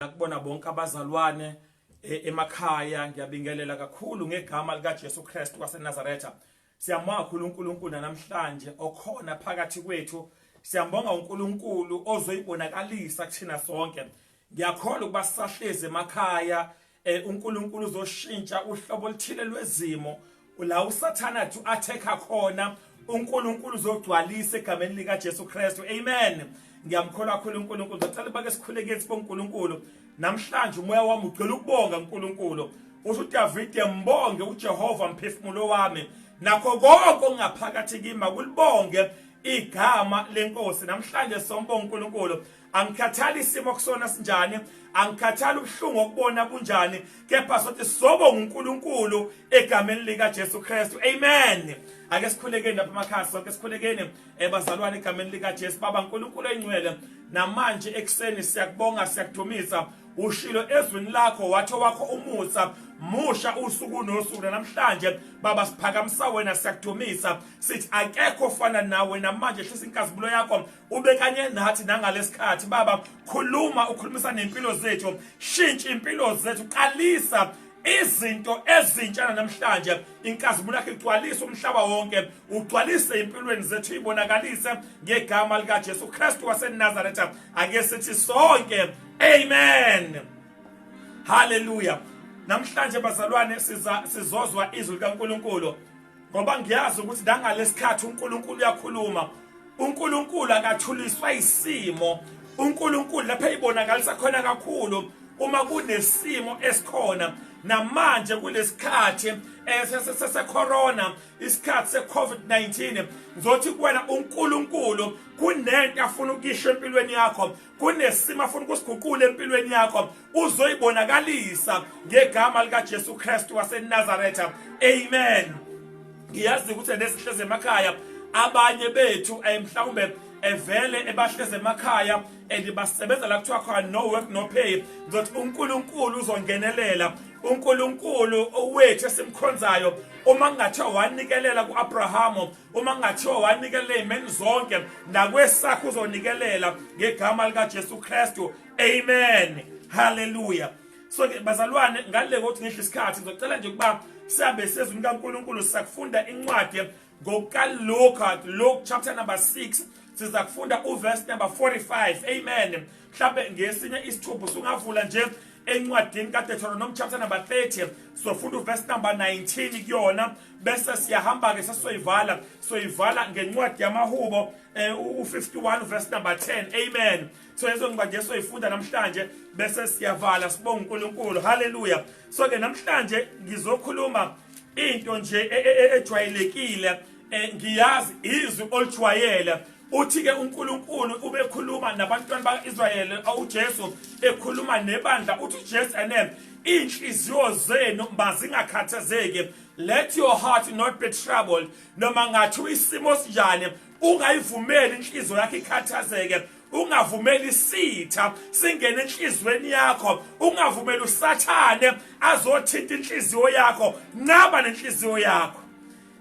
nakubona bonke abazalwane e, emakhaya ngiyabingelela kakhulu ngegama likaJesu Kristu waseNazaretha siyambonga kakhulu uNkulunkulu namhlanje okhona phakathi kwethu siyambonga uNkulunkulu ozoyibonakalisa kuthina sonke ngiyakholwa ukuba sisahleze emakhaya eh, uNkulunkulu uzoshintsha uhlobo oluthile lwezimo Ula uSathane athi attacker khona uNkulunkulu uzogcwalisa egameni lika Jesu Kristu. Amen. Ngiyamkholwa kakhulu uNkulunkulu. Ngicela bake sikhuleke sibo uNkulunkulu. Namhlanje umoya wami ugcwele ukubonga uNkulunkulu. Usho uDavid embonge uJehova mphefumulo wami. Nakho konke ongaphakathi kimi akulibonge igama lenkosi. Namhlanje sombonga uNkulunkulu. angikhathali isimo okusona sinjani angikhathali ubuhlungu okubona kunjani kepha sothi sobo nguNkulunkulu egameni lika Jesu Kristu amen ake sikhulekeni lapha emakhaya sonke sikhulekeni ebazalwane eh, egameni lika Jesu baba uNkulunkulu oyingcwele namanje ekseni siyakubonga siyakuthumisa ushilo ezwini lakho watho wakho umusa musha usuku nosuku namhlanje baba siphakamisa wena siyakuthumisa sithi akekho fana nawe namanje hlisa inkazibulo yakho ubekanye nathi nangalesikhathi baba khuluma ukhulumisa nempilo zethu shintsha impilo zethu qalisa izinto ezintsha namhlanje inkazimulo yakhe igcwalise umhlaba wonke ugcwalise impilweni zethu ibonakalise ngegama likaJesu Kristu waseNazaretha ake sithi sonke amen haleluya namhlanje bazalwane sizozwa izwi likaNkuluNkulu ngoba ngiyazi ukuthi nangalesikhathi uNkulunkulu uyakhuluma uNkulunkulu akathuliswa isimo uNkulunkulu lapha eyibonakalisa khona kakhulu uma kunesimo esikhona namanje kulesikhathi eh, sesecorona isikhathi secovid-19 ngizothi kuwena unkulunkulu kunento afuna ukuyisho empilweni yakho kunesimo afuna ukusiguqula empilweni yakho uzoyibonakalisa ngegama likaJesu Kristu waseNazaretha amen ngiyazi ukuthi nesihleze emakhaya abanye bethu eh, mhlawumbe evele eh, ebahleze emakhaya and eh, basebenza la kuthiwa khona no work no pay ngizothi uNkulunkulu uzongenelela uNkulunkulu owethu esimkhonzayo uma kungathiwa wanikelela kuAbraham uma kungathiwa wanikelela ey'meni zonke nakwesakho uzonikelela ngegama likajesu kristu amen haleluya so ke bazalwane ngale kokuthi ngidle isikhathi ngizocela nje ukuba sihambe sezwini kankulunkulu sisakufunda incwadi ngokaluka luke chapter number 6 siza kufunda uverse number 45 amen mhlawumbe ngesinye isithupho sungavula nje encwadini kaDeuteronomy chapter number 30 sofunda uverse number 19 kuyona bese siyahamba-ke sesizoyivala soyivala ngencwadi yamahubo um eh, u-51 verse number 10 amen so lezo ncwadi esoyifunda namhlanje bese siyavala sibonga unkulunkulu halleluya so-ke namhlanje ngizokhuluma into nje e, e, e, ejwayelekile um ngiyazi izwi olujwayele Uthi-ke uNkulunkulu ubekhuluma nabantwana baka-Israyeli uJesu ekhuluma nebandla uthi uJesu ene iy'nhliziyo zenu mazingakhathazeki let your heart not be troubled noma ngathiwa isimo sinjani ungayivumeli inhliziyo yakho ikhathazeke ungavumeli isitha singene enhlizweni yakho ungavumeli usathane azothinta inhliziyo yakho nqaba nenhliziyo yakho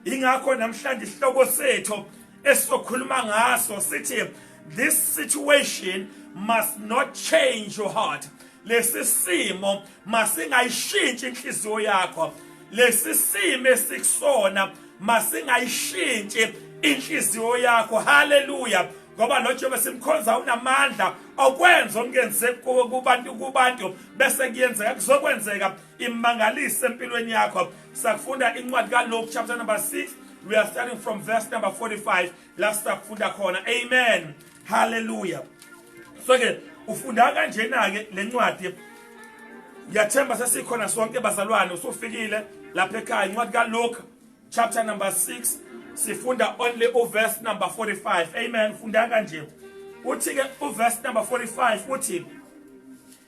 ingakho namhlanje isihloko sethu esizokhuluma ngaso sithi this situation must not change your heart lesi simo masingayishintshi inhliziyo yakho lesi simo esikusona masingayishintshi inhliziyo yakho haleluya ngoba lo Jehova simkhonza unamandla okwenza okungenzeki kubantu kubantu bese kuyenzeka kuzokwenzeka imangalise empilweni yakho sakufunda incwadi kaLuke chapter number 6 we are starting from verse number 45 la sakufunda khona amen hallelujah so ke ufunda kanjena ke lencwadi ngiyathemba sesikhona sonke bazalwane usufikile lapha ekhaya incwadi kaLuke chapter number 6 sifunda only uverse number 45 amen funda kanje uthi ke uverse number 45 uthi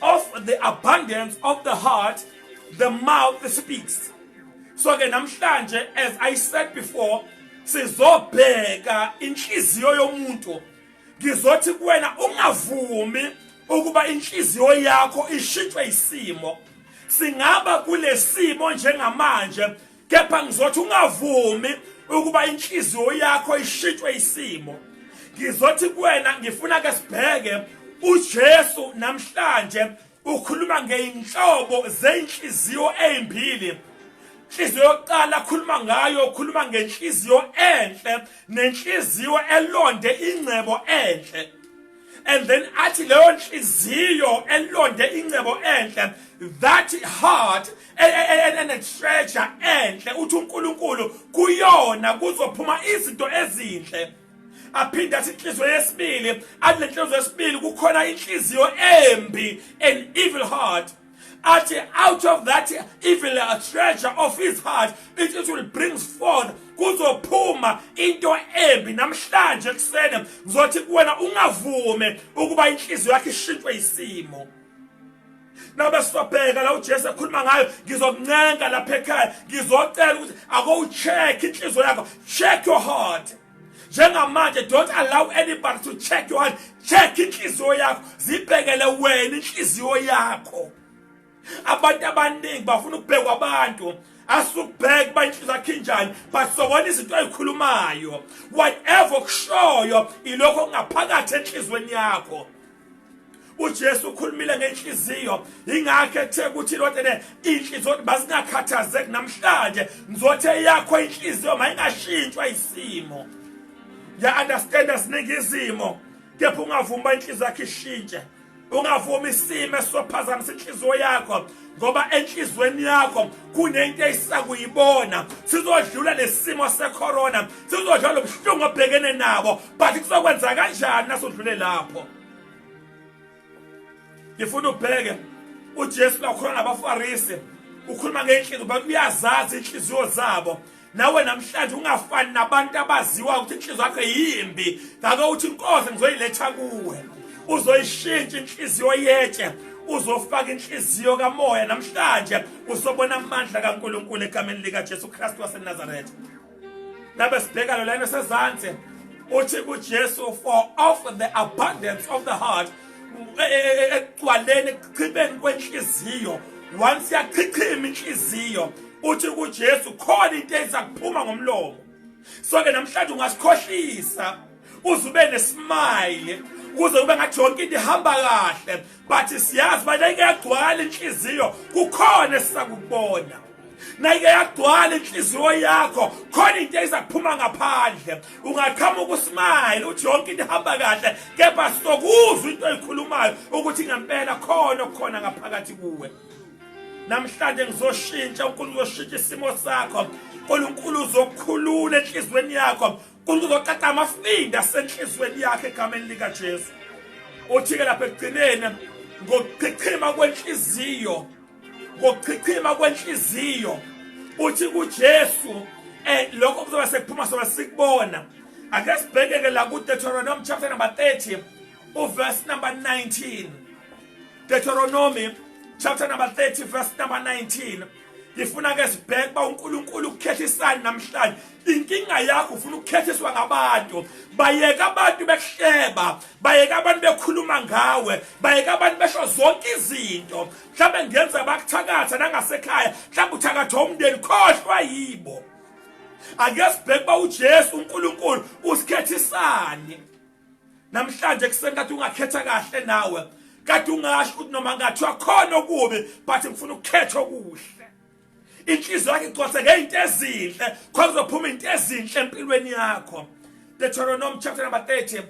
of the abundance of the heart the mouth speaks so ke namhlanje as i said before sizobheka inhliziyo yomuntu ngizothi kuwena ungavumi ukuba inhliziyo yakho ishitshwe isimo singaba kulesimo njengamanje kepha ngizothi ungavumi ukuba inhliziyo yakho ishintshwe isimo ngizothi kuwena ngifuna ke sibheke uJesu namhlanje ukhuluma ngeinhlobo zeinhliziyo ezimbili inhliziyo yokuqala akhuluma ngayo ukhuluma ngenhliziyo enhle nenhliziyo elonde ingcebo enhle and then athi leyo nhliziyo elonde ingcebo enhle that heart enetreasure enhle uthi uNkulunkulu kuyona kuzophuma izinto ezinhle aphinde athi inhliziyo yesibili athi lenhliziyo yesibili kukhona inhliziyo embi an evil heart athi out of that evil uh, treasure of his heart it, it will brings forth kuzophuma into embi namhlanje ekuseni ngizothi kuwena ungavume ukuba inhliziyo yakhe ishintshwe isimo noma sizobheka la uJesu ekhuluma ngayo ngizokuncenga lapha ekhaya ngizocela ukuthi akowucheck inhliziyo yakho check your heart njengamanje don't allow anybody to check your heart check inhliziyo yakho zibhekele wena inhliziyo yakho abantu abaningi bafuna ukubhekwa abantu asubheke uba inhliziyo yakhe injani but sobona izinto ayikhulumayo whatever okushoyo ilokho kungaphakathi enhliziyweni yakho uJesu ukhulumile ngenhliziyo ingakho ethe ukuthi lotene inhliziyo ukuthi basingakhathazeki namhlanje ngizothe yakho inhliziyo mayingashintshwa isimo ya understand asiningi izimo kepha ungavumi uba inhliziyo yakho ishintshe ungavumi isimo esizophazamisa inhliziyo yakho ngoba enhlizweni yakho kunento eyisakuyibona sizodlula lesimo secorona sizodlula lobuhlungu obhekene nabo but kuzokwenza kanjani nasudlule lapho ngifuna ubheke uJesu lakhona nabaFarisi ukhuluma ngenhliziyo bakuyazazi inhliziyo zabo nawe namhlanje ungafani nabantu abaziwa ukuthi inhliziyo yakho yimbi ngake uthi inkosi ngizoyiletha kuwe uzoyishintsha inhliziyo yetshe uzofaka inhliziyo kamoya namhlanje usobona amandla kaNkuluNkulu egameni lika Jesu Kristu waseNazaretha nabe sibheka lo lana sezansi uthi kuJesu for of the abundance of the heart e, e, e, ekugcwaleni ekuchibeni kwenhliziyo once yachichima inhliziyo uthi kuJesu khona into ezakuphuma ngomlomo so ke namhlanje ungasikhohlisa uze ube nesmile kuze kube ngathi yonke into ihamba kahle but siyazi bayike yagcwala inhliziyo kukhona esisakubona nayike yagcwala inhliziyo yakho khona into eyizaphuma ngaphandle ungaqhamuka usmayile uthi yonke into ihamba kahle kepha sokuzwa into eyikhulumayo ukuthi ngempela khona okukhona ngaphakathi kuwe namhlanje ngizoshintsha unkulunkulu uzoshintsha isimo sakho unkulunkulu uzokhulula enhliziyweni yakho unkulunkulu uzoqaqa amafinda asenhliziyweni yakhe egameni likajesu uthi-ke lapha ekugcineni ngokuchichima kwenhliziyo ngokuchichima kwenhliziyo uthi kuJesu eh lokho kuzoba sekuphuma sona sikubona ake sibhekeke la ku Deuteronomy chapter number 30 u verse number 19 Deuteronomy chapter number 30 verse number 19 ngifuna ke sibheke ba uNkulunkulu ukukhethisani namhlanje inkinga yakho ufuna ukukhethiswa ngabantu bayeka abantu bekuhleba bayeka abantu bekhuluma ngawe bayeka abantu besho zonke izinto mhlawumbe ngenza bakuthakatha nangasekhaya mhlawumbe uthakatha umndeni khohlwa yibo ake sibheke uba ujesu unkulunkulu usikhethisani namhlanje kuseni kade ungakhetha kahle nawe kade ungasho ukuthi noma ngathi wakhona okubi but ngifuna ukukhetha okuhle inhliziyo yakhe igcwase ngeyinto ezinhle khona uzophuma into ezinhle empilweni yakho Deuteronomy chapter number 30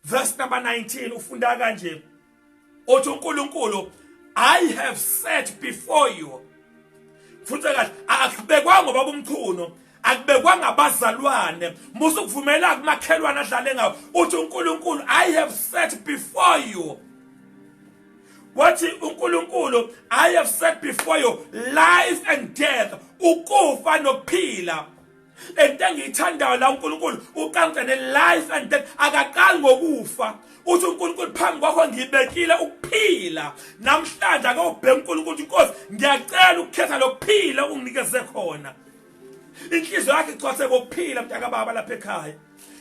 Verse number 19 ufunda kanje. Uthi uNkulunkulu I have set before you. Futhi kahle akubekwa ngoba umkhuno akubekwa ngabazalwane musa ukuvumela kumakhelwane adlale ngawo uthi uNkulunkulu I have set before you wathi uNkulunkulu I have set before you life and death ukufa nokuphila lento engiyithandayo la uNkulunkulu uqanqe ne life and death akaqali ngokufa uthi uNkulunkulu phambi kwakho ngibekile ukuphila namhlanje ake ubheke uNkulunkulu inkosi ngiyacela ukukhetha lokuphila unginikeze khona inhliziyo yakhe igcwase kokuphila mntaka baba lapha ekhaya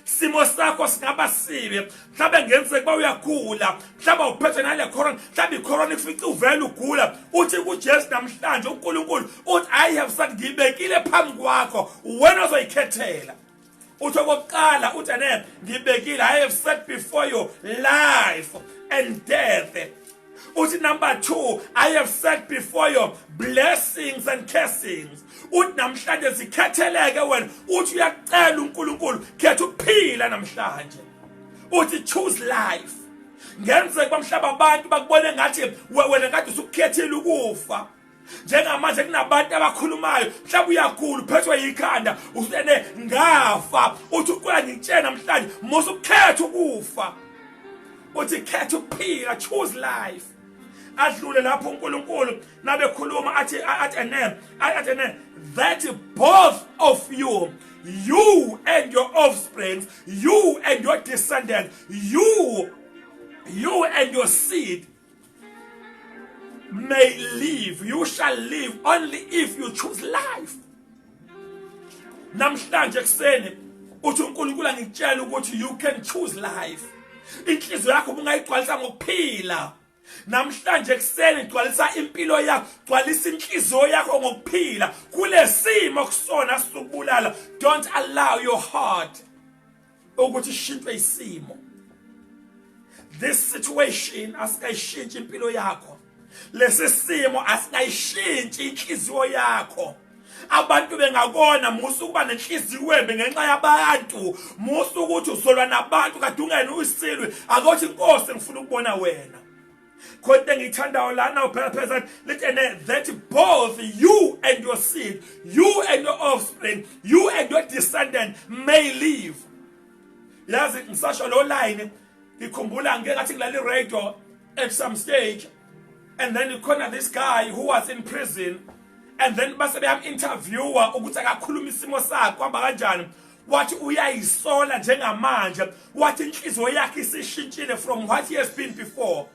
simo sakho singaba sibi mhlawumbe ngenzeka uba uyagula mhlawumbe uphethwe nale corona mhlawumbe icorona ikufica uvele ugula uthi kujesu namhlanje unkulunkulu uthi i have said ngiyibekile phambi kwakho wena ozoyikhethela uthi okokuqala uthi ane ngibekile i have set before you life and death uthi number 2 i have said before your blessings and cursings uthi namhlanje sikhetheleke wena uthi uyacela uNkulunkulu khetha ukuphila namhlanje uthi choose life ngenzeka bamhlaba abantu bakubone ngathi wena kade usukhethile ukufa njengamanje kunabantu abakhulumayo mhlawumbe uyagula uphethwe yikhanda usene ngafa uthi uqola ngitshena namhlanje musa ukukhetha ukufa uthi khetha ukuphila choose life adlule lapho uNkulunkulu nabekhuluma athi athi ene athi ene that both of you you and your offspring you and your descendants you you and your seed may live you shall live only if you choose life namhlanje kuseni uthi uNkulunkulu angikutshela ukuthi you can choose life inhliziyo yakho ubungayigcwalisa ngokuphila namhlanje kuseni gcwalisa impilo yakho gcwalisa inhliziyo yakho ngokuphila kulesimo kusona sikubulala don't allow your heart ukuthi ishintshwe isimo this situation asikayishintshi impilo yakho lesi simo asikayishintshi inhliziyo yakho abantu bengakona musa ukuba nenhliziyo embi ngenxa yabantu musa ukuthi usolwa nabantu kade ungena uyisilwe akothi inkosi ngifuna ukubona wena khona into engiyithandayo lana uphela phezulu lithi and that both you and your seed you and your offspring you and your descendant may live yazi ngisasho lo line ngikhumbula ngeke ngathi ngilale radio at some stage and then you corner this guy who was in prison and then base beyam interviewer ukuthi akakhuluma isimo sakhe kwamba kanjani wathi uyayisola njengamanje wathi inhliziyo yakhe isishintshile from what he has been before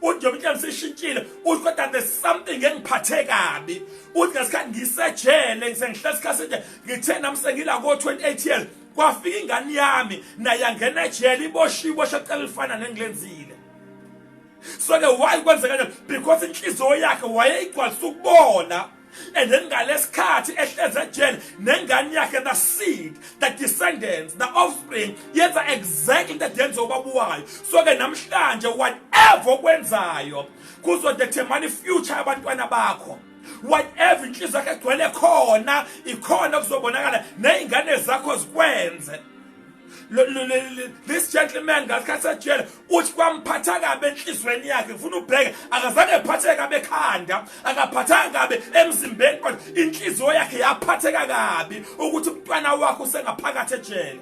uthi njengoba inhliziyo isishintshile uthi kodwa there's something engiphathe kabi uthi ngesikhathi ngisejele ngisengihlala isikhathi nje ngithe nami sengila ko-28 years kwafika ingane yami naye angena ejele iboshiwe ibosha cela lifana nengilenzile so-ke why kwenzeka njani because inhliziyo yakhe wayeyigcwalisa ukubona And then ngalesikhathi ehlezi ejele nengane yakhe the seed the descendants the offspring yenza exactly that yenza ubaba wayo so ke namhlanje whatever okwenzayo kuzodetermine future abantwana bakho whatever inhliziyo yakhe egcwele khona ikhona kuzobonakala nezingane zakho zikwenze this gentleman ngasikhathi sejele uthi kwamphatha kabi enhlizweni yakhe ngifuna ubheke akazange ephatheke kabi ekhanda akaphathanga kabi emzimbeni kodwa inhliziyo yakhe yaphatheka kabi ukuthi umntwana wakho usengaphakathi ejele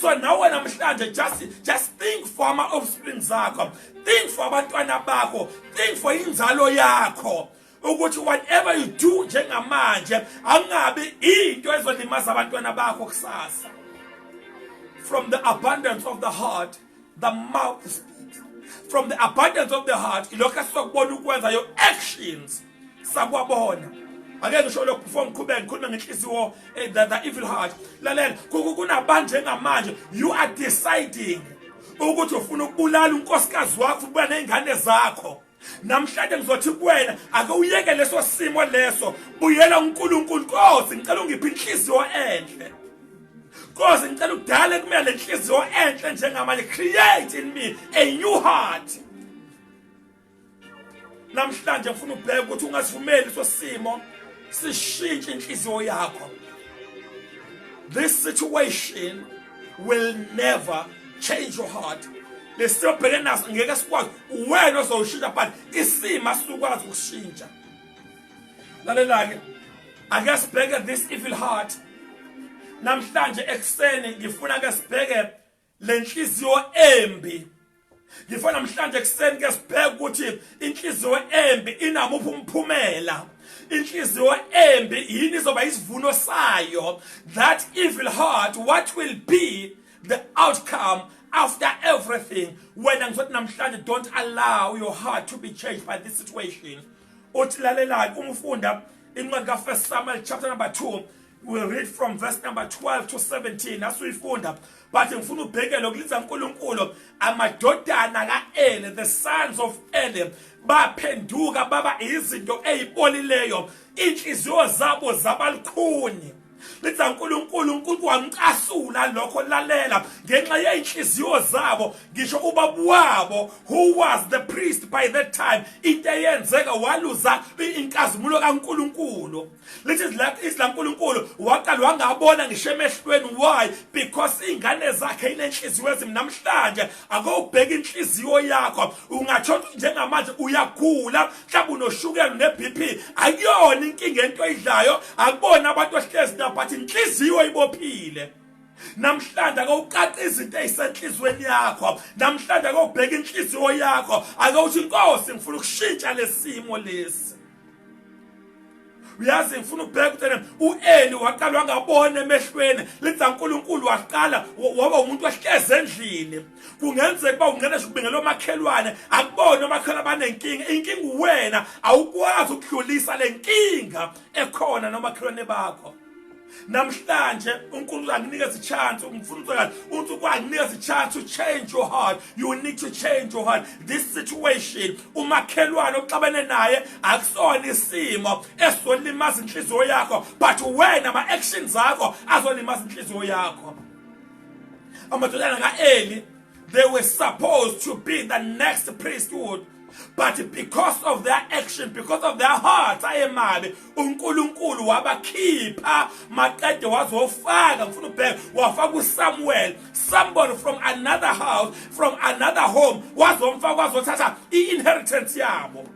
so nawe namhlanje just just think for ama offspring zakho think for abantwana bakho think for inzalo yakho ukuthi whatever you do njengamanje angabi into ezolimaza abantwana bakho kusasa from the abundance of the heart the mouth speaks from the abundance of the heart ilokho esizokubona ukwenza your actions sakwabona ake ngisho lokhu before ngiqhubeke ngikhulume ngenhliziyo eh, the, the evil heart lalela kunabantu njengamanje you are deciding ukuthi ufuna ukubulala unkosikazi wakho ubuya nezingane zakho namhlanje ngizothi kuwena ake uyeke leso simo leso buyela uNkulunkulu Nkosi ngicela ungiphe inhliziyo enhle Nkosi ngicela udale kumele lenhliziyo enhle njengamanje create in me a new heart namhlanje ngifuna ubheke ukuthi ungasivumeli iso simo sishintshe inhliziyo yakho this situation will never change your heart lesimo bhekene naso ngeke sikwazi uwena ozowushintsha but isimo asukwazi ukushintsha lalelake ake sibheke this evil heart namhlanje ekuseni ngifuna ke sibheke lenhliziyo embi Ngifa namhlanje ekuseni ke sibheke ukuthi inhliziyo embi inamuphi umphumela. Inhliziyo embi yini izoba isivuno sayo? That evil heart what will be the outcome after everything? Wena ngizothi namhlanje don't allow your heart to be changed by this situation. Uthi lalelani umfunda incwadi ka First Samuel chapter number 2 we read from verse number 12 to 17 asuyifunda but ngifuna ubhekele ukuliza uNkulunkulu amadodana kaEle the sons of Ele baphenduka baba izinto ezipolileyo inhliziyo zabo zabalukhuni lithi uNkulunkulu uNkulunkulu wamcasula lokho lalela ngenxa yeinhliziyo zabo ngisho ubaba wabo who was the priest by that time into eyenzeka waluza inkazimulo kaNkulunkulu lithi izwi lankulunkulu waqala wangabona ngisho emehlweni why because iy'ngane zakhe inenhliziyo ezimi namhlanje ake ubheke inhliziyo yakho ungatsho ukuthi njengamanje uyagula mhlawumbe unoshukela ne-b p akuyona inkinga ento oyidlayo akubona abantu ahlezi nabo but inhliziyo ibophile namhlanje ake uqaqa izinto ezisenhlizweni yakho namhlanje ake ubheke inhliziyo yakho ake uthi inkosi ngifuna ukushintsha lesimo lesi uyazi ngifuna ukubheka ukuthi ueli waqalwa ngabona emehlweni lenza unkulunkulu waqala waba umuntu wahlezi endlini kungenzeka uba ungena nje ukubingela omakhelwane akubona omakhelwane abanenkinga inkinga uwena awukwazi ukudlulisa le nkinga ekhona nomakhelwane bakho namhlanje unkulunkulu anginikeza ichance ngifuna ucela unkulunkulu anginikeza ichance to change your heart you need to change your heart this situation umakhelwane oxabene naye akusona isimo esizolimaza inhliziyo yakho but wena ama actions akho azolimaza inhliziyo yakho amadodana kaEli They were supposed to be the next priesthood. But because of their action, because of their hearts ayemabi, uNkulunkulu wabakhipha maqede wazofaka ngifuna ubheka wafaka uSamuel, somebody from another house, from another home wazomfaka wazothatha i-inheritance yabo.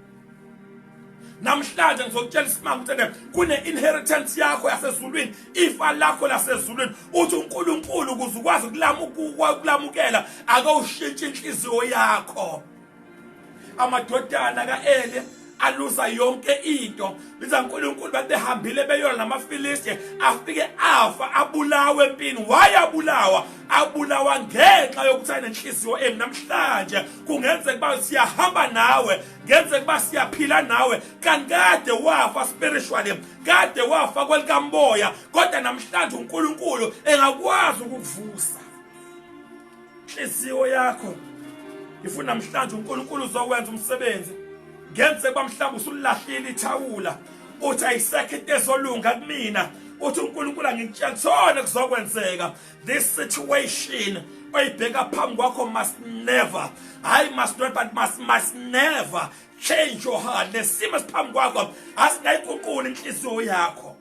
namhlanje ngizokutshela isimanga ukuthi kune-inheritance yakho yasezulwini ifa lakho lasezulwini uthi unkulunkulu ukuze ukwazi ukulamukela akawushintshi inhliziyo yakho amadodana ka-eli aluza yonke into biza uNkulunkulu bathi behambile beyona namaFilisti afike afa abulawe empini wayabulawa abulawa ngenxa yokuthi anenhliziyo embi namhlanje kungenzeka uba siyahamba nawe ngenzeka uba siyaphila nawe kanti kade wafa spiritually kade wafa kwelikamoya kodwa namhlanje uNkulunkulu engakwazi ukukuvusa inhliziyo yakho ngifuna namhlanje uNkulunkulu uzowenza umsebenzi ngenzeka uba mhlawumbe usulahlile ithawula uthi ayisekho into ezolunga kumina uthi uNkulunkulu angikutshela kuthona kuzokwenzeka this situation oyibheka phambi kwakho must never hayi must not but must, must never change your heart lesimo esiphambi kwakho asingayiguquli inhliziyo yakho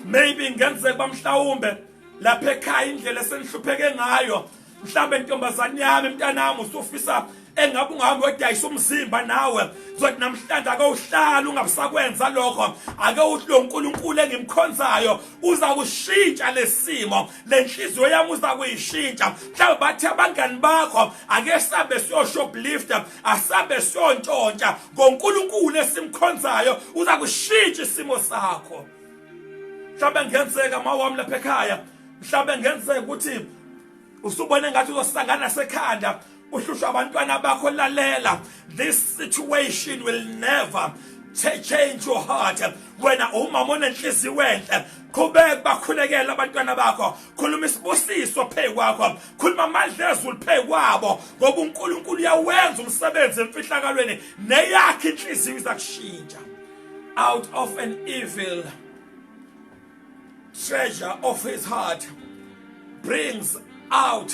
maybe ngenzeka bamhlawumbe lapha ekhaya indlela esenihlupheke ngayo mhlambe ntombazane yami mntanami usufisa engabe ungahambi wedayisa umzimba nawe zothi namhlanje ake uhlala ungabusakwenza lokho ake uthi lo nkulunkulu engimkhonzayo uza kushintsha lesimo le nhliziyo yami uza kuyishintsha mhlawumbe bathi abangani bakho ake sambe siyoshoplifta asambe siyontshontsha ngonkulunkulu esimkhonzayo uza kushintsha isimo sakho mhlawumbe ngenzeka mawami lapha ekhaya mhlawumbe ngenzeka ukuthi usubone ngathi uzosangana sekhanda uhlushwa abantwana bakho lalela this situation will never change your heart wena umama onenhliziyo enhle qhubeka bakhulekela abantwana bakho khuluma isibusiso phezu kwakho khuluma amandla ezulu phezu kwabo ngoba uNkulunkulu uyawenza umsebenzi emfihlakalweni neyakhe inhliziyo izakushintsha out of an evil treasure of his heart brings out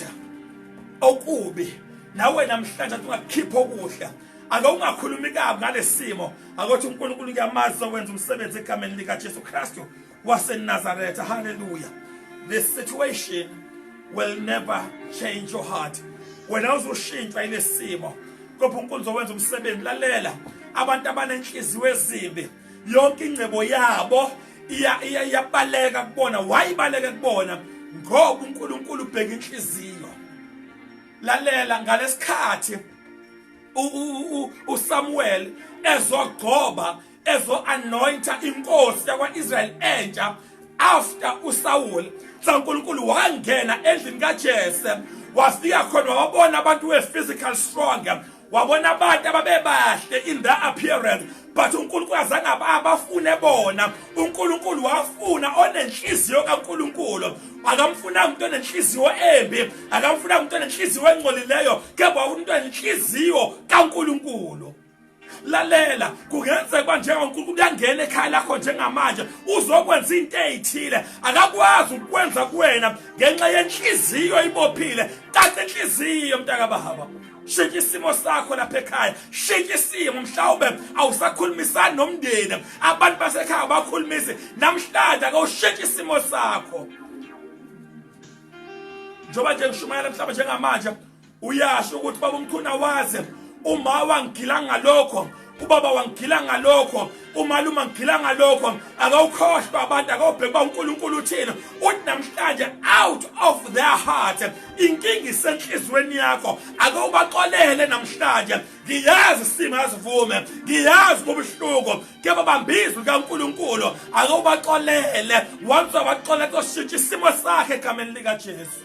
okubi nawe namhlanje ungakhipha okuhle ake ungakhulumi kabi ngalesimo akothi uNkulunkulu uyamazi owenza umsebenzi egameni lika Jesu Kristu waseNazareth hallelujah this situation will never change your heart wena uzoshintshwa ilesimo kodwa uNkulunkulu uzowenza umsebenzi lalela abantu abanenhliziyo ezimbi yonke ingcebo yabo iyabaleka kubona wayibaleke kubona ngoba uNkulunkulu ubheka inhliziyo lalela ngalesikhathi uSamuel ezogcoba ezoanointa inkosi yakwaIsrael entsha after uSaul saNkulunkulu wangena endlini kaJese wafika khona wabona abantu we physical strong wabona abantu ababebahle in their appearance but uNkulunkulu azange abafune bona uNkulunkulu wafuna onenhliziyo kaNkulunkulu akamfunanga umuntu onenhliziyo embi akamfunanga umuntu onenhliziyo engcolileyo kepha umuntu onenhliziyo kaNkulunkulu lalela kungenzeka uba njengonkulunkulu uyangena ekhaya lakho njengamanje uzokwenza into eyithile akakwazi ukukwenza kuwena ngenxa yenhliziyo ibophile caca inhliziyo mntakabahaba shintsha isimo sakho lapha ekhaya shintsha isimo mhlawumbe awusakhulumisani nomndeni abantu basekhaya abakhulumisi namhlanje akawushintsha isimo sakho njengoba nje ngishumayela mhlawumbe njengamanje uyasho ukuthi baba umkhuna waze uma wangigila ngalokho ubaba wangigila ngalokho umalume angigila ngalokho akawukhohlwa abantu akawubheki uba unkulunkulu uthini uthi namhlanje out of their heart inkinga isenhliziyweni yakho akawubaxolele namhlanje ngiyazi isimo asivume ngiyazi kubuhlungu ke babambizwe kaNkuluNkulu ake ubaxolele once wabaxola koshintsha isimo sakhe egameni likaJesu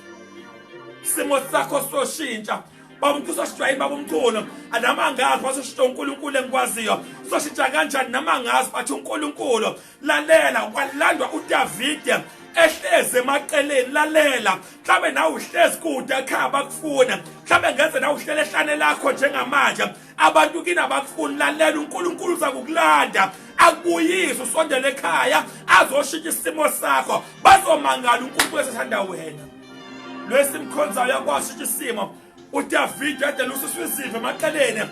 isimo sakho soshintsha baba umkhosi wasijwayini baba umkhulu anama angazi wasishintsha unkulunkulu engikwaziyo sizoshintsha kanjani nama ngazi bathi unkulunkulu lalela kwalandwa udavide ehlezi emaqeleni lalela mhlawumbe nawe uhlezi kude ekhaya bakufuna mhlawumbe ngeze nawe uhlele ehlane lakho njengamanje abantu kini abakufuni lalela unkulunkulu uza kukulanda akubuyise usondele ekhaya azoshintsha isimo sakho bazomangala unkulunkulu esethanda wena lwesimkhonzayo yakwasisho isimo udavide edelusiswa izimvu emaqeleni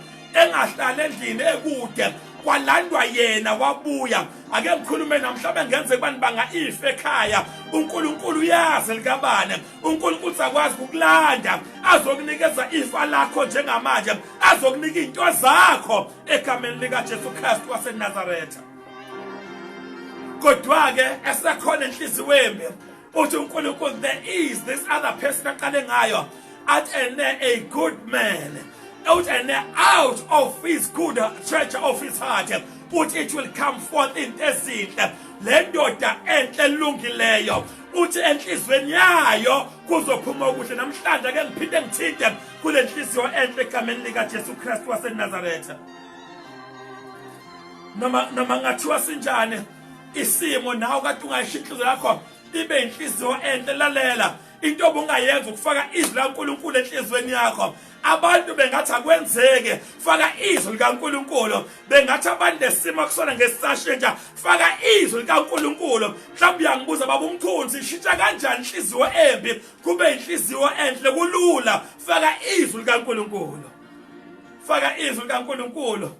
engahlali endlini ekude kwalandwa yena wabuya ake ngikhulume namhlawumbe ngenze kubani banga ife ekhaya unkulunkulu uyazi likabane unkulunkulu sakwazi ukukulanda azokunikeza ifa lakho njengamanje azokunika iy'nto zakho egameni likajesu kristu wasenazaretha kodwa-ke esekhona enhliziweni uthi unkulunkulu there is this other person aqale ngayo at and a good man out and out of his good church of his heart uthi it will come forth into ezinhle le ndoda enhle elungileyo uthi enhlizweni yayo kuzophuma okuhle namhlanje ake ngiphinde ngithinte kule nhliziyo enhle egameni likajesu kristu wasenazaretha noma noma ngathiwa sinjani isimo nawe kade ungayisho inhliziyo yakho ibe inhliziyo enhle lalela into obungayenza ukufaka izwi laNkulunkulu enhlizweni yakho abantu bengathi akwenzeke faka izwi likaNkuluNkulu bengathi abantu lesimo kusona ngesisashintsha faka izwi likaNkuluNkulu mhlawumbe uyangibuza baba umkhulu sishintsha kanjani inhliziyo embi kube inhliziyo enhle kulula faka izwi likaNkuluNkulu faka izwi likaNkuluNkulu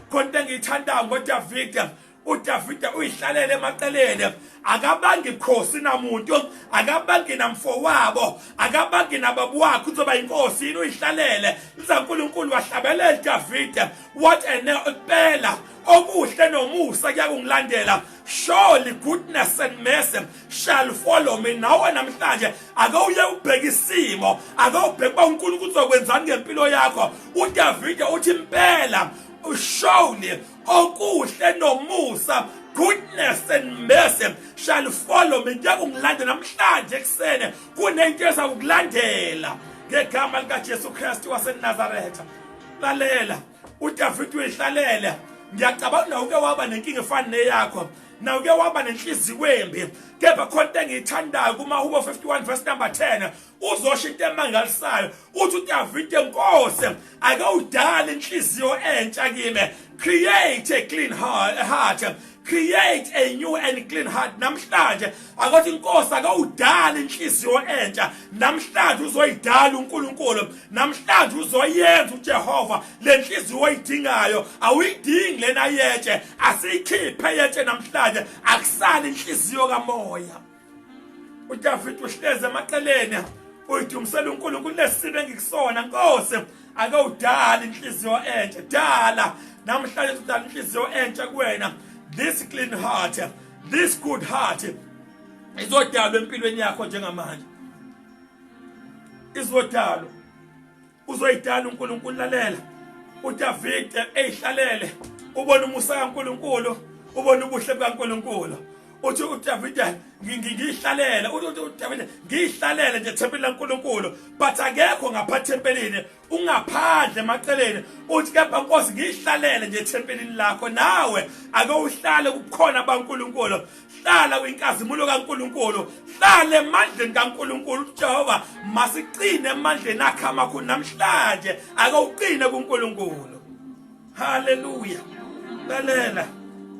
khona engiyithandayo ngoDavide udavide uyihlalele emaqeleni akabangi khosi namuntu akabangi namfowabo akabangi nababa wakhe uzoba yinkosi yini uyihlalele lizankulunkulu wahlabelela davide what ene impela okuhle nomusa kuyakungilandela surely goodness and mercy shall follow me nawe namhlanje ake uye ubheke isimo ake ubheke uba unkulunkulu uzokwenzani ngempilo yakho udavide uthi impela surely okuhle nomusa goodness and mercy shall follow me njengokungilandela namhlanje ekusene kunento eza kukulandela ngegama likaJesu Kristu waseNazaretha lalela uDavid uyihlalele ngiyacabanga na uke waba nenkinga efana neyakho na uke waba nenhliziyo embi kepha khona engiyithandayo kuma Hubo 51 verse number 10 uzosho into emangalisayo uthi udavide nkosi ake udale inhliziyo entsha kimi create a clean heart create a new and clean heart namhlanje akothi inkosi ake udale inhliziyo entsha namhlanje uzoyidala uNkulunkulu namhlanje uzoyenza uJehova lenhliziyo oyidingayo awuyidingi lena yetshe asiyikhiphe yetshe namhlanje akusali inhliziyo kamoya uDavid uhleze emaqeleni uyidumisela uNkulunkulu lesibe engikusona Nkosi ake udala inhliziyo entsha dala namhlanje udala inhliziyo entsha kuwena this clean heart this good heart izodalwa empilweni yakho njengamanje izodalwa uzoyidala uNkulunkulu lalela uDavide eyihlalele ubona umusa kaNkulunkulu ubona ubuhle bukaNkulunkulu uthi uDavide ngiyihlalele uthi uDavide ngiyihlalele nje thempeli laNkulunkulu but akekho ngapha thempelini ungaphandle emaceleni uthi kepha Nkosi ngiyihlalele nje thempelini lakho nawe ake uhlale kukhona baNkulunkulu hlala kwinkazimulo kaNkuluNkulu hlala emandleni kaNkuluNkulu uJehova masiqine emandleni akhe amakhulu namhlanje ake uqine kuNkuluNkulu haleluya lalela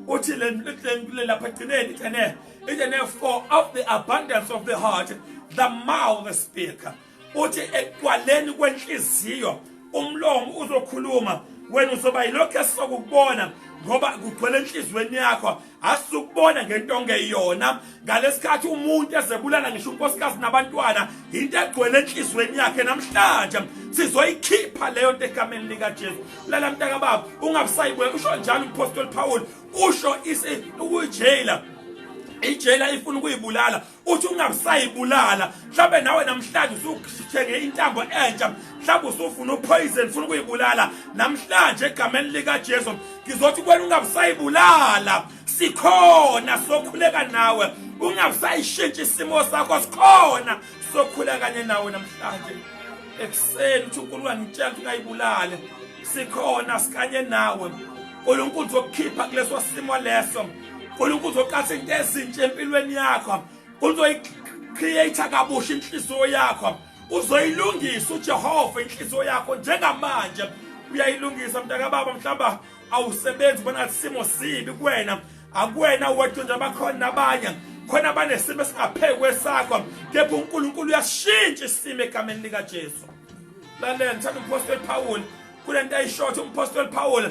uthi le lapha egcineni ithene ithene for of the abundance of the heart the mouth speaker uthi ekuqwaleni kwenhliziyo umlomo uzokhuluma wena uzoba yilokhu esizokubona ngoba kugcwele enhliziyweni yakho asizukubona ngento ongeyona ngalesikhathi umuntu ezebulala ngisho unkosikazi nabantwana into egcwele enhliziyweni yakhe namhlanje sizoyikhipha leyo nto egameni likaJesu lala mntaka baba ungabusayibuyela usho njalo umpostoli Paul usho isi ukujela ijela ifuna ukuyibulala uthi ungabusayibulala mhlawumbe nawe namhlanje usuthenge intambo entsha mhlawumbe usufuna upoison funa ukuyibulala namhlanje egameni likajesu ngizothi kwena ungabusayibulala sikhona sokhuleka nawe ungabusayishintshi isimo sakho sikhona sokhuleka kanye nawe namhlanje ekuseni uthi unkulunkulu angitshela ukuthi ungayibulale sikhona sikanye nawe unkulunkulu uzokukhipha kuleso simo leso uNkulunkulu uzoqatha into ezintsha empilweni yakho uzoyicreate kabusha inhliziyo yakho uzoyilungisa uJehova inhliziyo yakho njengamanje uyayilungisa mntaka baba mhlamba awusebenzi bona simo sibi kuwena akuwena wedwa nje abakhona nabanye khona abanesimo esingaphekwe sakho kepha uNkulunkulu uyashintsha isimo egameni likaJesu lalela ngithanda umpostoli Paul kule nto ayishotha umpostoli Paul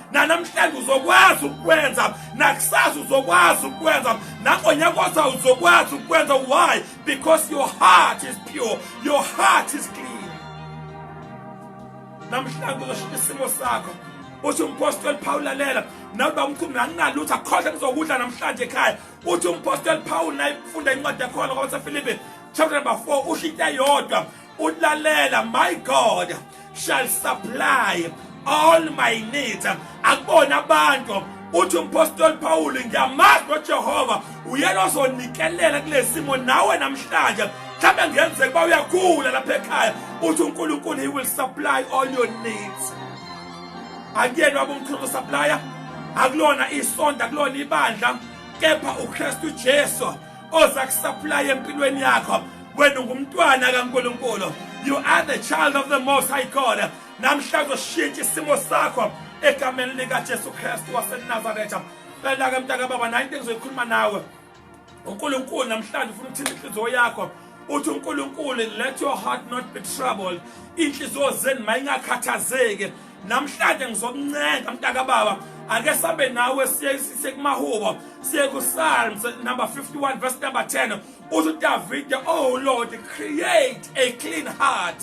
nanamhlanje uzokwazi ukukwenza nakusasa uzokwazi ukukwenza nangonyaka oza uzokwazi ukukwenza why because your heart is pure your heart is clean namhlanje uzoshintsha isimo sakho uthi umpostoli Paul lalela nawe baba umkhulu anginalutho akhohle ngizokudla namhlanje ekhaya uthi umpostoli Paul naye ufunda incwadi yakho ngoba seFilipi chapter number 4 usho into eyodwa ulalela my god shall supply all my needs akubona abantu uthi umpostoli pawulu ngiyamazi nojehova uyena ozonikelela kule simo nawe namhlanje mhlawumbe ngenzeka uba uyakhula lapha ekhaya uthi unkulunkulu he will supply all your needs akuyena waba umkhulu usaplaya akulona isonto akulona ibandla kepha ukristu jesu oza kusupply empilweni yakho wena ungumntwana kaNkulunkulu you are the child of the most high God namhla uzoshintsha isimo sakho egameni lika Jesu Kristu waseNazaretha cela ke mntaka baba nayo into engizoyikhuluma nawe uNkulunkulu namhlanje ufuna ukuthinta inhliziyo yakho uthi uNkulunkulu let your heart not be troubled inhliziyo zenu mayingakhathazeki namhlanje ngizokuncenga mntakababa ake sambe nawe siye siye kumahubo siye kusalms number 51 verse number 10 uthi udavide oh lord create a clean heart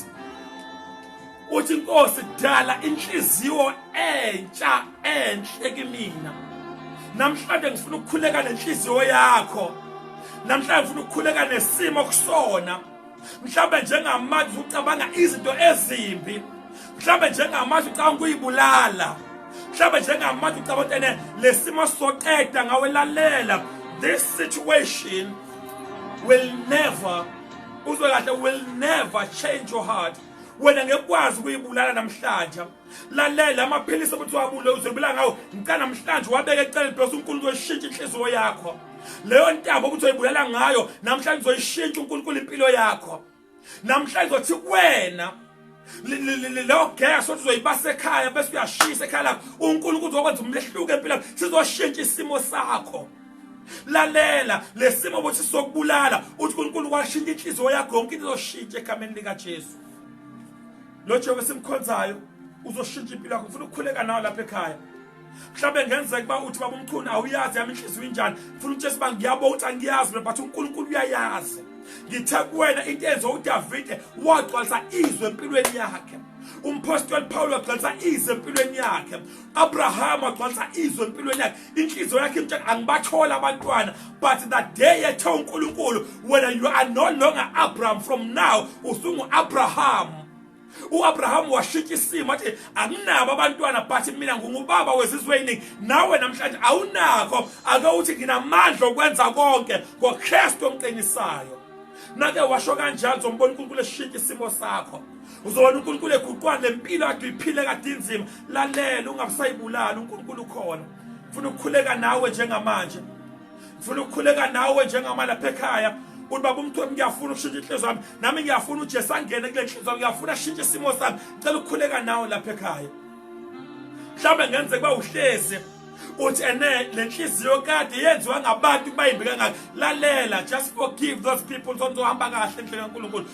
uthi inkosi dala inhliziyo entsha enhle kimina namhlanje ngifuna ukukhuleka nenhliziyo yakho namhlanje ngifuna ukukhuleka nesimo kusona mhlawumbe njengamanje ucabanga izinto ezimbi mhlawumbe njengamanje ucabanga ukuyibulala mhlawumbe njengamanje ucabanga ukuthi ene lesimo soqeda ngawe lalela this situation will never uzwe kahle will never change your heart wena ngekwazi ukuyibulala namhlanje lalela amaphilisi ukuthi wabule uzobila ngawo ngicela namhlanje wabeke eceleni because uNkulunkulu uyishintsha inhliziyo yakho leyo ntaba ukuthi uyibulala ngayo namhlanje uzoyishintsha uNkulunkulu impilo yakho namhlanje uthi kuwena leyo gas othi uzoyibasa ekhaya bese uyashisa ekhaya lakho uNkulunkulu uzokwenza umlehluko empilweni sizoshintsha isimo sakho lalela lesimo ukuthi sokubulala uthi uNkulunkulu washintsha inhliziyo yakho yonke into izoshintsha egameni lika Jesu lo Jehova esimkhonzayo uzoshintsha impilo yakho ngifuna ukukhuleka nawe lapha ekhaya mhlawumbe ngenzeka uba uthi baba umchunu awuyazi yami inhliziyo injani ngifuna ukuthi esiba ngiyabo ukuthi angiyazi mina but unkulunkulu uyayazi ngithe kuwena into enze udavide wagcwalisa izwe empilweni yakhe umpostoli pawulo wagcwalisa izwe empilweni yakhe abrahama wagcwalisa izwe empilweni yakhe inhliziyo yakhe imtshela angibatholi abantwana but the day yethe unkulunkulu wena you are no longer abraham from now usungu-abraham u-abraham washintsha isimo athi anginabo abantwana but mina ngingubaba wezizwe eyiningi nawe namhlanje awunakho ake uthi nginamandla okwenza konke ngokristu omqinisayo nake washo kanjani zombona unkulunkulu eshintsha isimo sakho uzobona uNkulunkulu eguqwana lempilo yakhe uyiphile kade inzima lalela ungabusayibulali uNkulunkulu ukhona ufuna ukukhuleka nawe njengamanje ufuna ukukhuleka nawe njengama lapha ekhaya uthi baba umthwebo ngiyafuna ukushintsha inhliziyo yami nami ngiyafuna uJesu angene kule nhliziyo yami ngiyafuna ashintshe isimo sami cela ukukhuleka nawe lapha ekhaya mhlawumbe ngenzeka uba uhlezi uthi ene le nhliziyo kade yenziwa ngabantu bayimbi kangaka lalela just forgive those people sonto hamba kahle endleleni kaNkulunkulu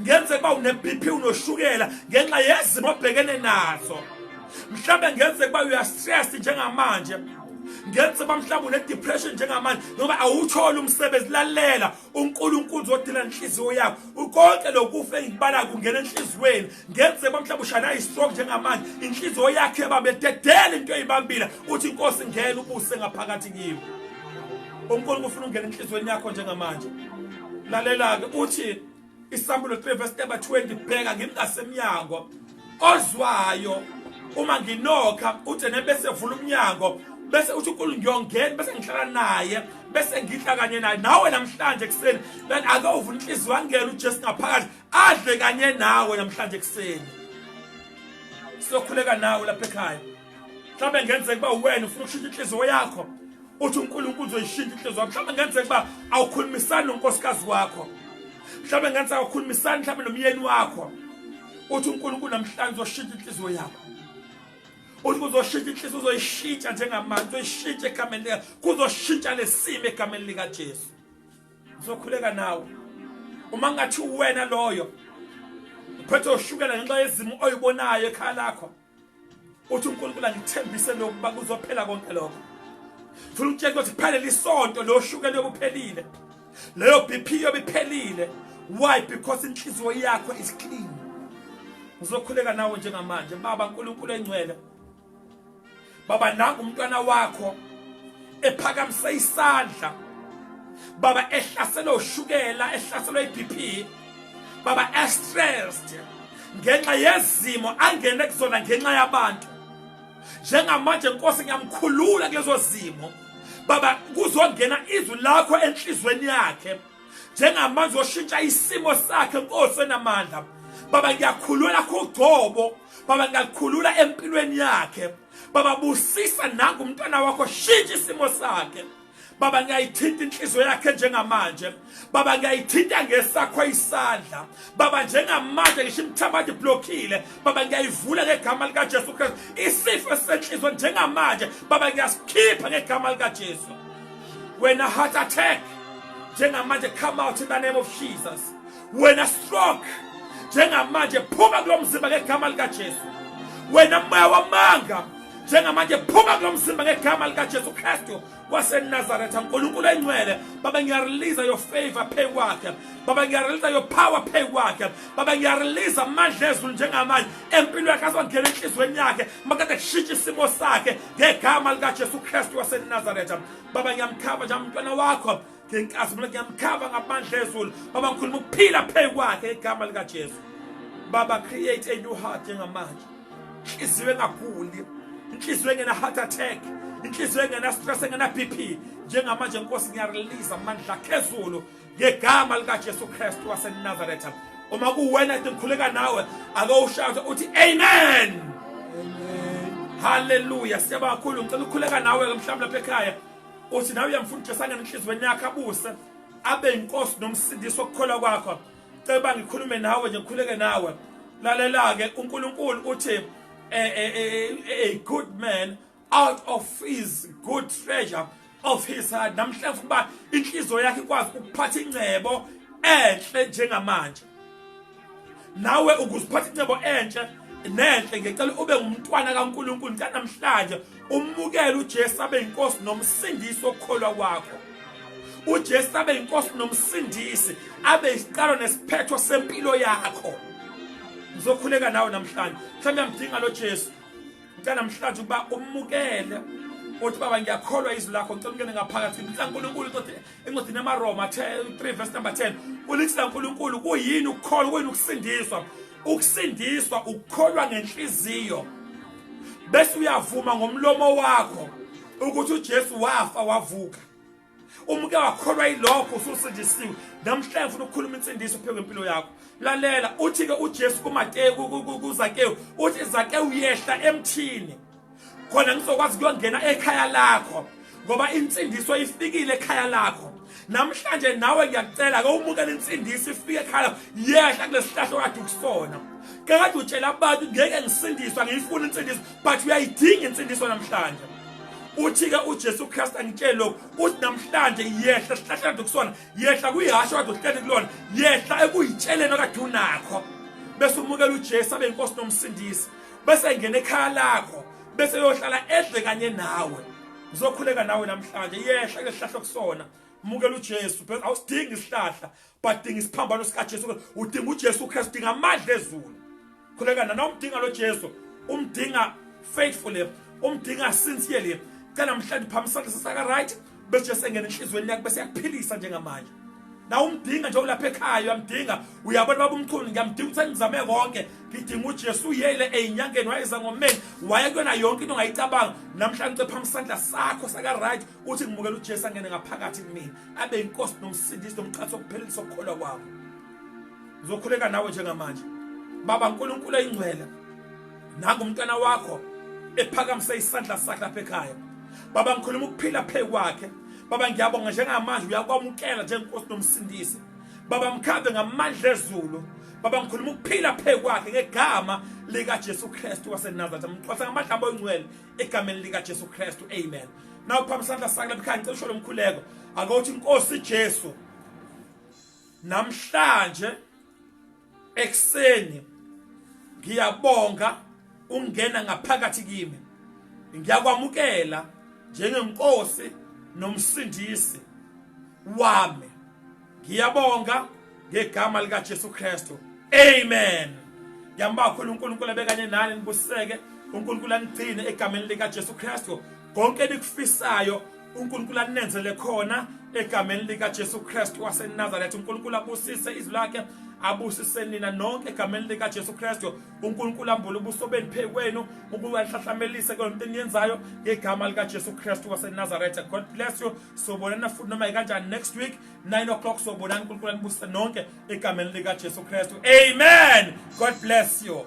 ngenzeka uba une-bp unoshukela ngenxa yezimo obhekene nazo mhlawumbe ngenzeka uba uyastress njengamanje ngenzeka uba mhlawumbe une-depression njengamanje noma awutholi umsebenzi lalela unkulunkulu zodila nenhliziyo yakho ukonke lokufa engikubala kungena enhliziyweni ngenzeka uba mhlawumbe ushana i-stroke njengamanje inhliziyo yakho yababededela into eyibambile uthi inkosi ngena ubuse ngaphakathi kiwo unkulunkulu ufuna ungena enhliziyweni yakho njengamanje lalela-ke uthi isamulo 3 verse number 20 bheka ngimi ngasemnyango ozwayo uma nginokha uthi nebese vula umnyango bese uthi unkulu ngiyongena bese ngihlala naye bese ngidla kanye naye nawe namhlanje ekuseni kanti ake uvula inhliziyo wangena ujesu ngaphakathi adle kanye nawe namhlanje ekuseni sokhuleka nawe lapha ekhaya mhlawumbe ngenzeka uba uwena ufuna ukushintsha inhliziyo yakho uthi unkulunkulu uzoyishintsha inhliziyo yakho mhlawumbe ngenzeka uba awukhulumisani nonkosikazi wakho mhlawumbe ngenzeka awukhulumisani mhlawumbe nomyeni wakho uthi unkulunkulu namhlanje uzoshintsha inhliziyo yakho uthi kuzoshintsha inhliziyo uzoyishintsha njengamanje uzoyishintsha egameni lika kuzoshintsha lesimo egameni likajesu ngizokhuleka nawe uma ngathi uwena loyo uphethe ushukela ngenxa yezimo oyibonayo ekhaya lakho uthi uNkulunkulu angithembise lokhu ukuba kuzophela konke lokho funa ukutshela ukuthi phele lisonto loshukela yobuphelile leyo BP yobiphelile why because inhliziyo yakho is clean ngizokhuleka nawe njengamanje baba uNkulunkulu engcwele baba nangu umntwana wakho ephakamise isandla baba ehlaselwe ushukela ehlaselwe iBP baba estressed ngenxa yezimo angene kuzona ngenxa yabantu njengamanje nkosi ngiyamkhulula kulezo zimo baba kuzongena izwi lakho enhlizweni yakhe njengamanje oshintsha isimo sakhe nkosi enamandla baba ngiyakhulula kugcobo Baba ngiyakukhulula empilweni yakhe Baba busisa nangu umntwana wakho shintsha isimo sakhe Baba ngiyayithinta inhliziyo yakhe njengamanje Baba ngiyayithinta ngesakho isandla Baba njengamanje ngisho imthamadi blockile Baba ngiyayivula ngegama lika Jesu Christ isifo esenhliziyo njengamanje Baba ngiyasikhipha ngegama lika Jesu Wena heart attack njengamanje come out in the name of Jesus wena stroke njengamanje phuma kulo mzimba ngegama likaJesu wena moya wamanga njengamanje phuma kulo mzimba ngegama likaJesu Kristu waseNazaretha uNkulunkulu engcwele baba ngiyarelease your favor phezu kwakhe baba ngiyarelease your power phezu kwakhe baba ngiyarelease amandla ezulu njengamanje empilo yakhe azongena enhliziyweni yakhe makade kushintsha isimo sakhe ngegama likaJesu Kristu waseNazaretha baba ngiyamkhava nje umntwana wakho ngenkazi mina ngiyamkhava ngamandla ezulu baba ngikhuluma ukuphila phezu kwakhe igama likajesu baba create a new heart njengamanje inhliziyo engaguli inhliziyo engena-heart attack inhliziyo engena-stress engena-b p njengamanje nkosi ngiyarelisa amandla akhezulu ngegama likajesu kristu wasenazaretha uma kuwena ke ngikhuleka nawe ake ushaywe uthi amen haleluya siyabonga kakhulu ngicela ukukhuleka nawe-ke mhlawumbi lapha ekhaya uthi nawe uyamfuna uJesu angene enhliziyweni yakhe abuse abe inkosi nomsindisi wokukholwa kwakho ceba ngikhulume nawe nje ngikhuleke nawe lalela-ke unkulunkulu uthi a, a, a, a good man out of his good treasure of his heart namhla ngifuna uba inhliziyo yakhe ikwazi ukuphatha ingcebo enhle njengamanje nawe ukuziphatha incebo entsha nenhle ngicela ube ngumntwana kaNkuluNkulu kanamhlanje umukele uJesu abe inkosi nomsindisi okukholwa kwakho uJesu abe inkosi nomsindisi abe isiqalo nesiphetho sempilo yakho ngizokhuleka nawe namhlanje mhlawumbe ngidinga lo Jesu ngicela namhlanje ukuba umukele uthi baba ngiyakholwa izwi lakho ngicela ungene ngaphakathi ngicela uNkulunkulu uthi encwadini yamaroma 3 verse number 10 ulithi lankulunkulu kuyini ukukholwa kuyini ukusindiswa ukusindiswa ukukholwa ngenhliziyo bese uyavuma ngomlomo wakho ukuthi uJesu wafa wavuka umke wakholwa ilokho ususindisiwe namhlanje ngifuna ukukhuluma insindiso pheke impilo yakho lalela uthi ke uJesu kuMateyu kuZakewu uthi Zakewu yehla emthini khona ngizokwazi kuyongena ekhaya lakho ngoba insindiso ifikile ekhaya lakho namhlanje nawe ngiyakucela ke umukela insindiso ifike ekhaya yehla kulesihlahlo kade ukusona kakade utshela abantu ngeke ngisindiswa ngiyifuna insindiso but uyayidinga insindiso namhlanje uthi-ke ujesu kristu angitshele lokhu uthi namhlanje yehla sihlahla kade kusona yehla kuyihasho kade uhleli kulona yehla ekuyitsheleni okade unakho bese umukela ujesu abe yinkosi nomsindisi bese engena ekhaya lakho bese yohlala edle kanye nawe ngizokhuleka nawe namhlanje yehla kulehlahla kusona mukela uJesu phela awusidingi isihlahla but dinga isiphambano sika Jesu udinga uJesu Christ dinga amadla ezulu khuleka nana umdinga lo Jesu umdinga faithfully umdinga sincerely cela mhlawumbe phamisana sisaka right bese esengena enhlizweni yakhe bese yakuphilisa njengamanje na umdinga nje ulapha ekhaya uyamdinga uyabona baba umchunu ngiyamdinga ukuthi ngizame konke ngidinga uJesu uyele ezinyangeni wayeza ngomeni waye kuyona yonke into ongayicabanga namhlanje ucepha isandla sakho saka right uthi ngimukela uJesu angene ngaphakathi kumina abe inkosi nomsindisi nomqhathi okuphelisa ukukholwa kwakho ngizokhuleka nawe njengamanje baba nkulunkulu eyingcwele nangu umntwana wakho ephakamisa isandla sakhe lapha ekhaya baba ngikhuluma ukuphila phe kwakhe baba ngiyabonga njengamanje uyakwamukela njengenkosi nomsindisi baba mkhambe ngamandla ezulu baba ngikhuluma ukuphila phe kwakhe ngegama likaJesu Kristu waseNazaretha mxhosa ngamandla abo ingcwele egameni likaJesu Kristu amen nawu phambi sandla sakhe lapha ngicela usho lomkhuleko akothi inkosi Jesu namhlanje ekseni ngiyabonga ungena ngaphakathi kimi ngiyakwamukela njengenkosi nomsindisi wami ngiyabonga ngegama lika Jesu Kristu amen ngiyambakhulu uNkulunkulu abekanye nani nibuseke uNkulunkulu anigcine egameni lika Jesu Kristu konke nikufisayo uNkulunkulu anenzele khona egameni lika Jesu Christ wase Nazareth uNkulunkulu abusise izwi lakhe abusise nina nonke egameni lika Jesu Christ uNkulunkulu ambule ubuso beniphe kwenu ukuwahlahlamelise konke eniyenzayo ngegama lika Jesu Christ wase Nazareth God bless you sobonana futhi noma kanjani next week 9 o'clock sobonana uNkulunkulu anibusise nonke egameni lika Jesu Christ amen God bless you